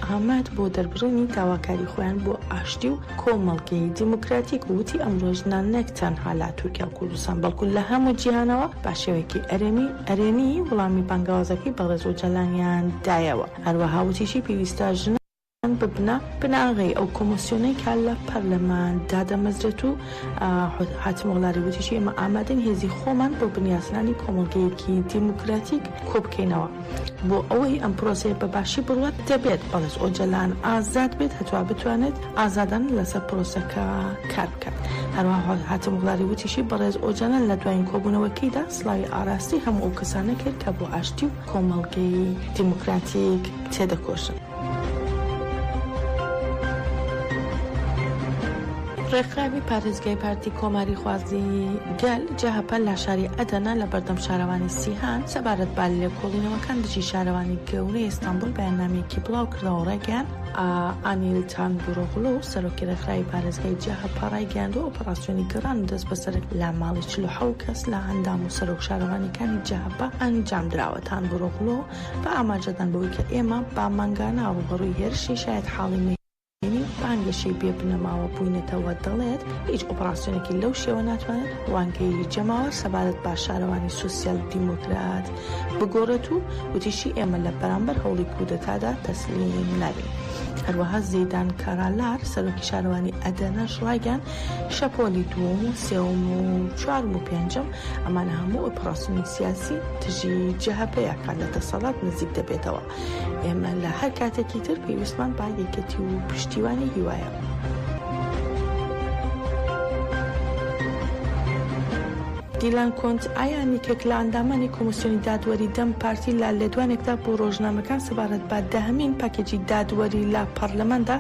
ئاماد بۆ دەربڕینی داواکاری خۆیان بۆ ئاشتی و کۆمەڵگەی دیموکراتیک و وتی ئەمڕۆ ژنان نەک تەنها لە تورکیا و کوردستان بەڵکو لە هەموو جیهانەوە بە شێوەیەکی ئەرێنی ئەرێنی وڵامی بانگەوازەکەی بەڕێز ئۆجالانیان دایەوە هەروەها وتیشی پێویستە ژنان ببنە بناغەی ئەو کۆمۆسیۆنەی کە لە پەرلەمان دادەمەزرێت و حاتمۆغلاری وتیشی ئێمە ئامادەین هێزی خۆمان بۆ بنیاتنانی کۆمەڵگەیەکی دیموکراتیک کۆبکەینەوە. بۆ ئەوەی ئەم پرۆسەیە بە باشی بڕوات دەبێت بەڕێز ئۆجەلان ئازاد بێت هەتوا بتوانێت ئازادانە لەسەر پرۆسەکە کار بکات هەروەها هاتم وڵاری وتیشی بەڕێز ئۆجەلان لە دوایین کۆبوونەوەکەیدا سڵاوی ئاراستەی هەموو ئەو کەسانە کرد کە بۆ ئاشتی و کۆمەڵگەی دیموکراتیک تێدەکۆشن. ڕێکخراوی پارێزگای پارتی کۆماری خوازی گەل، جەهەپە، لە شاری ئەدەنە لە بەردەم شارەوانی سیهان سەبارەت بە لێکۆڵینەوەکان دژی شارەوانی گەورەی ئیستانبول بەیاننامەیەکی بڵاوکردەوە و ڕایگەیاند، ئانیل تانگوروغلو، سەرۆکی ڕێکخراوی پارێزگای جەهەپە ڕایگەیاندووە، ئۆپەڕاسیۆنی گەڕان و دەستبەسەرکردن لە ماڵی چل و حەوت کەس لە ئەندام و سەرۆک شارەوانییەکانی جەهەپە ئەنجامدراوە، تانگوروغلو، بە ئاماژەدان بەوەی کە ئێمە بە مانگانە ڕووبەڕووی هێرشی شایەتحاڵی مەیدانی و بانگەشەی بێ بنەماوە بووینەتەوە، دەڵێت، هیچ ئۆپڕاسیۆنێکی لەو شێوە ناتوانێت ڕوانگەی جەماوەر سەبارەت بە شارەوانی سۆسیال دیمۆکرات بگۆڕێت و وتیشی، ئێمە لە بەرامبەر هەوڵی کودەتادا تەسلیم نابین. هەروەها زیدان کارالاار، سەرۆکی شارەوانی ئەدەنەش ڕایگەیاند، شەپۆلی دووەم و سێوم و چوارم و پێنجەم ئەمانە هەموو ئۆپڕاسیۆنی سیاسی تژی جەهەپەیە کە لە دەسەڵات نزیک دەبێتەوە ئێمە لە هەر کاتێکی تر پێویستمان با یەکەتی و پشتیوانی هیوایە. دیلان کۆنت ئایا نیکێک لە ئەندامانی کۆمسیۆنی دادوەری دەم پارتی لە لێدوانێکدا بۆ ڕۆژنامەکان سەبارەت بە دەهەمین پاکێجی دادوەری لە پەڕلەماندا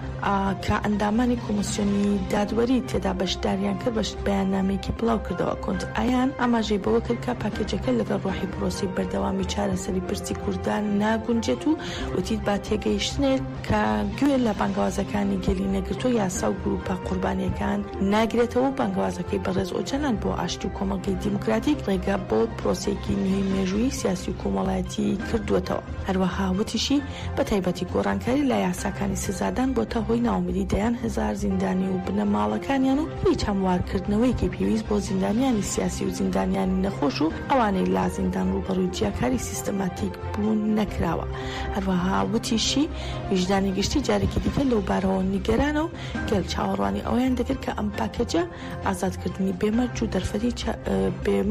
کە ئەندامانی کۆمسیۆنی دادوەری تێدا بەشداریان کرد بەیاننامەیەکی بڵاوکردەوە کۆنت ئایان ئاماژەی بەوە کرد کە پاکێجەکە لەگەڵ ڕۆحی پرۆسەی بەردەوامی چارەسەری پرسی کوردان ناگونجێت و وتی با تێگەیشتنێک کە گوێ لە بانگەوازەکانی گەلی نەگرتووە یاسا و گروپە قوربانییەکان ناگرێتەوە و بانگەوازەکەی بەڕێز ئۆجالان بۆ ئاشتی و کۆمەڵگەی دیموکراتیک ڕێگە بۆ پرۆسەیەکی نوێی مێژوویی سیاسی و کۆمەڵایەتی کردووەتەوە هەروەها وتیشی بە تایبەتی گۆڕانکاری لە یاساکانی سزادان بۆتە هۆی ناومیدی دەیان هەزار زیندانی و بنەماڵەکانیان و هیچ هەموارکردنەوەیەکی پێویست بۆ زیندانیانی سیاسی و زیندانیانی نەخۆش و ئەوانەی لە زیندان ڕووبەڕووی جیاکاری سیستەماتیک بوون نەکراوە. هەروەها وتیشی، ویژدانی گشتی جارێکی دیکە لەو بارەوە نیگەرانە و گەل چاوەڕوانی ئەوەیان دەکرد کە ئەم پاکێجە ئازادکردنی بێ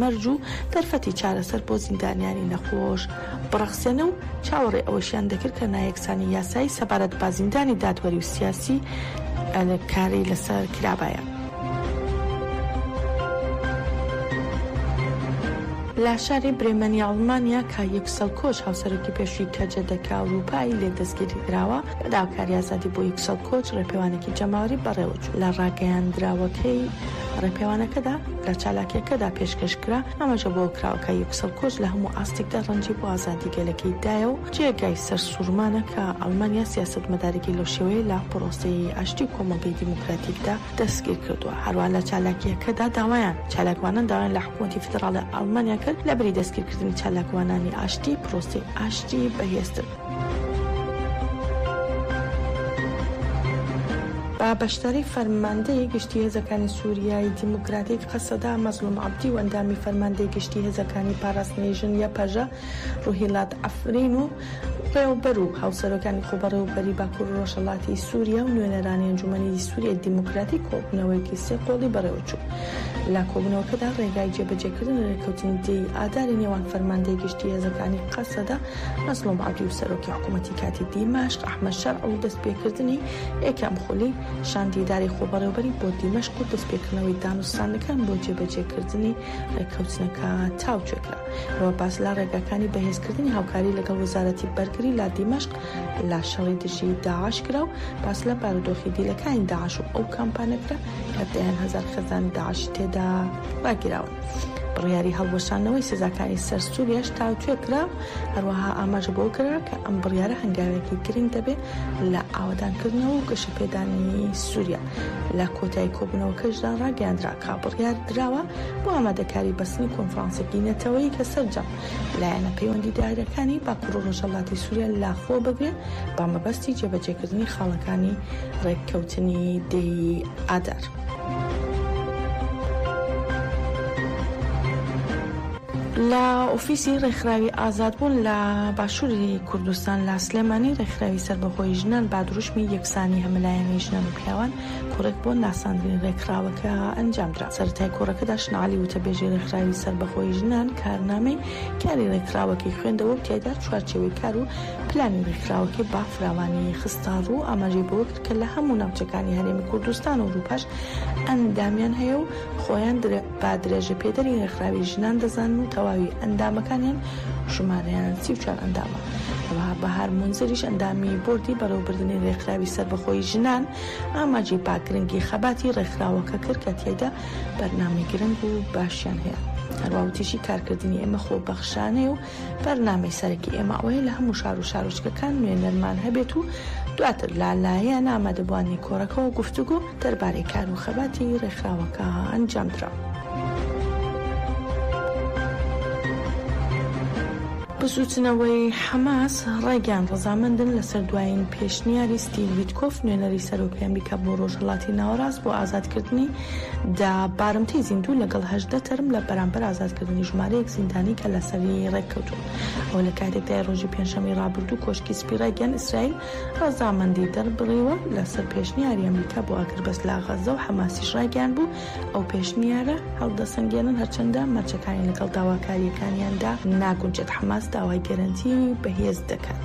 مەرج و دەرفەتی چارەسەر بۆ زیندانیانی نەخۆش بڕەخسێنە و چاوەڕێ ئەوەشیان دەکرد کە نایەکسانی یاسایی سەبارەت بە زیندانی دادوەری و سیاسی کاری لەسەر کرابایە. لە شاری برێمەنی ئەڵمانیا کە یوکسەل کۆچ هاوسەرۆکی پێشووی کەجە دەکە ئەوروپای لێ دەستگیری کراوە بە داواکاری ئازادی بۆ یوکسەل کۆچ ڕێپێوانێکی جەماوەری بەڕێوەچوو لە ڕاگەیاندراوەکەی ڕێپێوانەکەدا لە چالاکیەکەدا پێشکەش کرا، ئەمەشە بۆ کراوە کە یوکسەل کۆچ لە هەموو ئاستێکدا ڕەنجی بۆ ئازادی گەلەکەی دایە و جێگای سەرسوورمانە کە ئەڵمانیا سیاسەتمەدارێکی لەو شێوەیەی لە پڕۆسەی ئاشتی و کۆمەڵگەی دیموکراتیکدا دەستگیر کردووە. هەروەها لە چالاکیەکەدا داوایان چالاکوانان داوایان لە حکوومەتی فیدڕاڵی ئەڵمانیا کرد لەبری دەستگیرکردنی چالاکوانانی ئاشتی، پڕۆسەی ئاشتی بەهێزتر. بە بەشداری فەرماندەی گشتی هێزەکانی سوریای دیموکراتیک، قەسەدە، مەزڵوم عەبدی و ئەندامی فەرماندەی گشتی هێزەکانی پاراستنی ژن، یەپەژە، روهیلات عەفرین و بەڕێوەبەر و هاوسەرۆکانی خۆبەڕێوەبەریی باکور و رۆژهەڵاتی سوریا و نوێنەرانی ئەنجومەنی سوریای دیموکراتیک کۆبوونەوەیەکی سێ قۆڵی بەڕێوەچوو. لە کۆبوونەوەکەدا رێگای جێبەجێکردنی رێککەوتنی دە ی ئاداری نێوان فەرماندەی گشتی هێزەکانی قەسەدە نەسرو مادی و سەرۆکی حکوومەتی کاتی دیمەشق ئەحمەد شەرع و دەستپێکردنی یەکەم خولی شاندی ئیدارەی خۆبەڕێوەبەری بۆ دیمەشق و دەستپێکردنەوەی دانوستاندنەکان بۆ جێبەجێکردنی رێککەوتنەکە تاوتوێ کرا. هەروەها باس لە رێگاکانی بەهێزکردنی هاوکاری لەگەڵ وەزارەتی بەرگری لە دیمەشق لە شەڕی دژی داعش کرا و باس لە بارودۆخی دیلەکانی داعش و ئەو کامپانە کرا کە دەیان هەزار خێزانی داعشی تێدا راگیراون. بڕیاری هەڵوەشاندنەوەی سزاکانی سەر سووریاش تاوتوێ کرا، هەروەها ئاماژە بەوە کرا کە ئەم بڕیارە هەنگاوێکی گرنگ دەبێت لە ئاوەدانکردنەوە و گەشەپێدانی سووریا. لە کۆتایی کۆبوونەوەکەشدا ڕاگەیاندرا کە بڕیار دراوە بۆ ئامادەکاری بەستنی کۆنفرانسێکی نەتەوەیی کە سەرجەم لایەنە پەیوەندیدارەکانی باکوور و ڕۆژهەڵاتی سووریا لەخۆ بگرێت بە مەبەستی جێبەجێکردنی خاڵەکانی ڕێککەوتنی دەیی ئادار. لە ئۆفیسی ڕێکخراوی ئازادبوون لە باشووری کوردستان لە سلێمانی ڕێکخراوی سەربەخۆی ژنان با دروشمی یەکسانی هەمەلایەنەی ژنان و پیاوان کۆڕێک بۆ ناساندنی ڕێکخراوەکە ئەنجامدرا سەرەتای کۆڕەکەدا شنعلی وتەبێژی ڕێکخراوی سەربەخۆی ژنان کارنامەی کاری ڕێکخراوەکەی خوێندەوە و تیایدا چوارچێوەی کار و پلانی ڕێکخراوەکەی با فراوانی خستە ڕوو ئاماژەی بەوە کە لە هەموو ناوچەکانی هەرێمی کوردستان و ئورووپاش ئەندامیان هەیە و خۆیان بە درێژەپێدەری ڕێکخراوی ژنان دەزانن و تەواوی ئەندامەکانیان ژمارەیان سی و چوار ئەندامە. هەروەها بەهار مونزریش ئەندامی بۆردی بەڕێوەبردنی ڕێکخراوی سەربەخۆی ژنان ئاماژەی بە گرنگی خەباتی ڕێکخراوەکە کرد کە تیایدا بەرنامەی گرنگ و باشیان هەیە. هەروەها وتیشی کارکردنی ئێمە خۆبەخشانەیە و بەرنامەی سەرەکی ئێمە ئەوەیە لە هەموو شار و شارۆچکەکان نوێنەرمان هەبێت و دواتر لا لایەن ئامادەبووانی کۆڕەکەەوە گفتوگۆ دەربارەی کار و خەباتی ڕێکخراوەکە ئەنجامدرا. بزوتنەوەی حەماس ڕایگەیان ڕزامەندن لەسەر دوایین پێشنیاری ستیڤ ویتکۆف نوێنەری سەرۆکی ئەمریکا بۆ ڕۆژهەڵاتی ناوەڕاست بۆ ئازادکردنی دە بارمتەی زیندوو لەگەڵ هەژدە تەرم لە بەرامبەر ئازادکردنی ژمارەیەک زیندانی کە لەسەری ڕێککەوتوون. ئەوە لە کاتێکدایە ڕۆژی پێنجشەممەی ڕابردوو کۆشکی سپی ڕایگەیاند ئیسرائیل ڕەزامەندی دەربڕیوە لەسەر پێشنیاری ئەمریکا بۆ ئاگربەست لە غەززە و حەماسیش ڕایگەیاندبوو ئەو پێشنیارە هەڵدەسەنگێنن هەرچەندە مەرجەکانی لەگەڵ داواکارییەکانیاندا ناگونجێت. حەماس داوای گەرەنتی بەهێز دەکات.